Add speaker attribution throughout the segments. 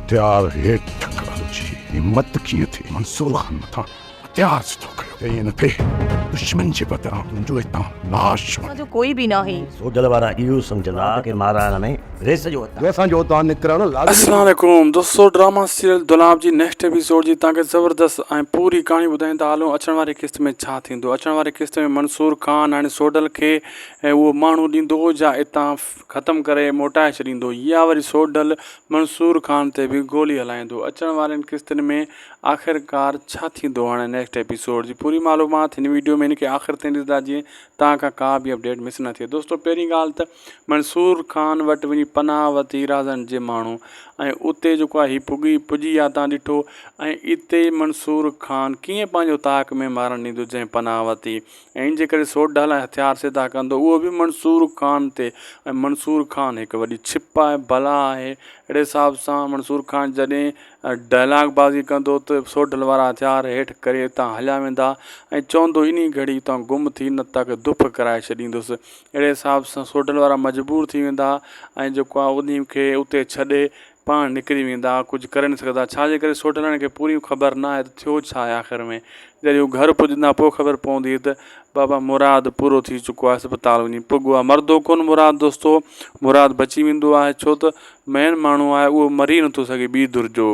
Speaker 1: هٿيار هيٺ ٺڪرڻ جي همت ڪيئن ٿي؟ منصور خان مٿان هٿيار سڌو ڪيو، ائين نه ٿئي، دشمن جي بدران تنهنجو هتان لاش وڃي.
Speaker 2: سوڍل وارا اهو
Speaker 3: سمجهندا ته مارائڻ ۾ ريس جو هتان. ريس جو هتان نڪرڻ
Speaker 1: لازمي هوندو. السلام عليڪم
Speaker 4: دوستو ڊراما سيريل دولاب جي نيڪسٽ ايپيسوڊ جي توهان کي زبردست ۽ پوري ڪهاڻي ٻڌائين ته هلون اچڻ واري قسط ۾ ڇا ٿيندو اچڻ واري قسط ۾ منصور خان هاڻي سوڍل کي اهو ماڻهو ڏيندو جا اتان ختم ڪري موٽائي ڇڏيندو يا وري سوڍل منصور خان تي به گولي هلائيندو اچڻ وارين قسطن ۾ آخرڪار ڇا ٿيندو هاڻي نيڪسٽ ايپيسوڊ جي پوري معلومات هن ويڊيو ۾ هن کي آخر تائين ڏسندا جيئن تان کان ڪا به اپڊيٽ مس نه ٿئي دوستو پهرين ڳالهه ته منصور خان وٽ وڃي پناهه وتي رازن جي ماڻهو ۽ اتي جيڪو آهي هي پڳي پڄي يا تان ڏٺو ۽ اتي منصور خان ڪيئن پنهنجو تاڪ ۾ مارڻ ڏيندو جنهن پناهه وتي ائين جي ڪري سوٽ ڍالائي هٿيار سڌا ڪندو اهو به منصور خان تي ۽ منصور خان هڪ وڏي ڇپ آهي بلا آهي اهڙي حساب سان منصور خان جڏهن ڊائلاگ بازي ڪندو ته سوٽ ڍل وارا هٿيار هيٺ ڪري اتان هليا ويندا ۽ چوندو انهي گهڙي اتان گم ٿي نه تاکي دڦ ڪرائي ڇڏيندس اهڙي حساب سان سوٽ ڍل وارا مجبور ٿي ويندا ۽ جيڪو آهي انهي کي اتي ڇڏي پاڻ نڪري ويندا، ڪجهه ڪري نه سگهندا، ڇا جي ڪري سوڍلڻ کي پوريون خبر نه آهي ته ٿيو ڇا آهي آخر ۾، جڏهن هو گهر پڄندا پوء خبر پوندي ته بابا مراد پورو ٿي چڪو آهي اسپتال وڃي پڳو آهي، مرندو ڪونه مراد دوستو، مراد بچي ويندو آهي ڇو ته مئن ماڻهو آهي اهو مري نه ٿو سگهي ٻي ڌر جو.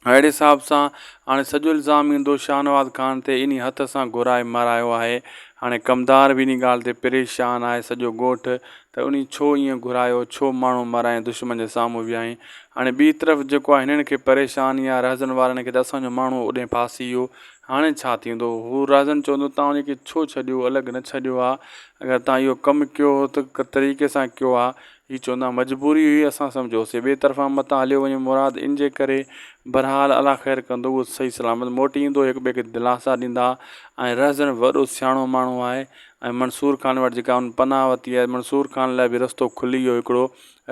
Speaker 4: اهڙي حساب سان هاڻي سڄو الزام ايندو شاهنواز خان تي انهي هٿ سان گهرائي مارايو آهي هاڻي ڪمدار به انهي ڳالهه تي پريشان آهي سڄو ڳوٺ ته انهي ڇو ائين گهرايو ڇو ماڻهو مارائين دشمن جي سامهون ويهائين هاڻي ٻي طرف جيڪو آهي هنن کي پريشاني آهي رهزن وارن کي ته اسان جو ماڻهو اڏي ڦاسي ويو هاڻي ڇا ٿيندو هو رهزن چوندو توهان ان کي ڇو ڇڏيو الڳ نه ڇڏيو ها اگر توهان اهو ڪم ڪيو هو ته ڪ طريقي سان ڪيو ها هي چوندا مجبوري هئي اسان سمجهيوسين ٻئي طرفان متان هليو وڃي مراد ان جي ڪري بهرحال الله خير ڪندو اهو صحيح سلامت موٽي ايندو هڪ ٻئي کي دلاسا ڏيندا ۽ رهزن به وڏو سياڻو ماڻهو آهي ۽ منصور خان وٽ جيڪا هن پناهه وتي آهي منصور خان لاء به رستو کلي ويو هڪڙو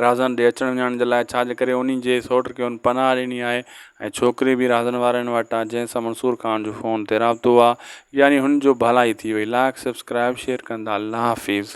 Speaker 4: رهزن ڏي اچڻ وڃڻ جي لاء ڇا جي ڪري انهي جي سئوٽ کي هن پناهه ڏني آهي ۽ ڇوڪري به رهزن وارن وٽ آهي جنهن سان منصور خان جو فون تي رابطو آهي يعني هن جو ڀلائي ٿي وئي لائق سبسڪرائب شيئر ڪندا الله حافظ.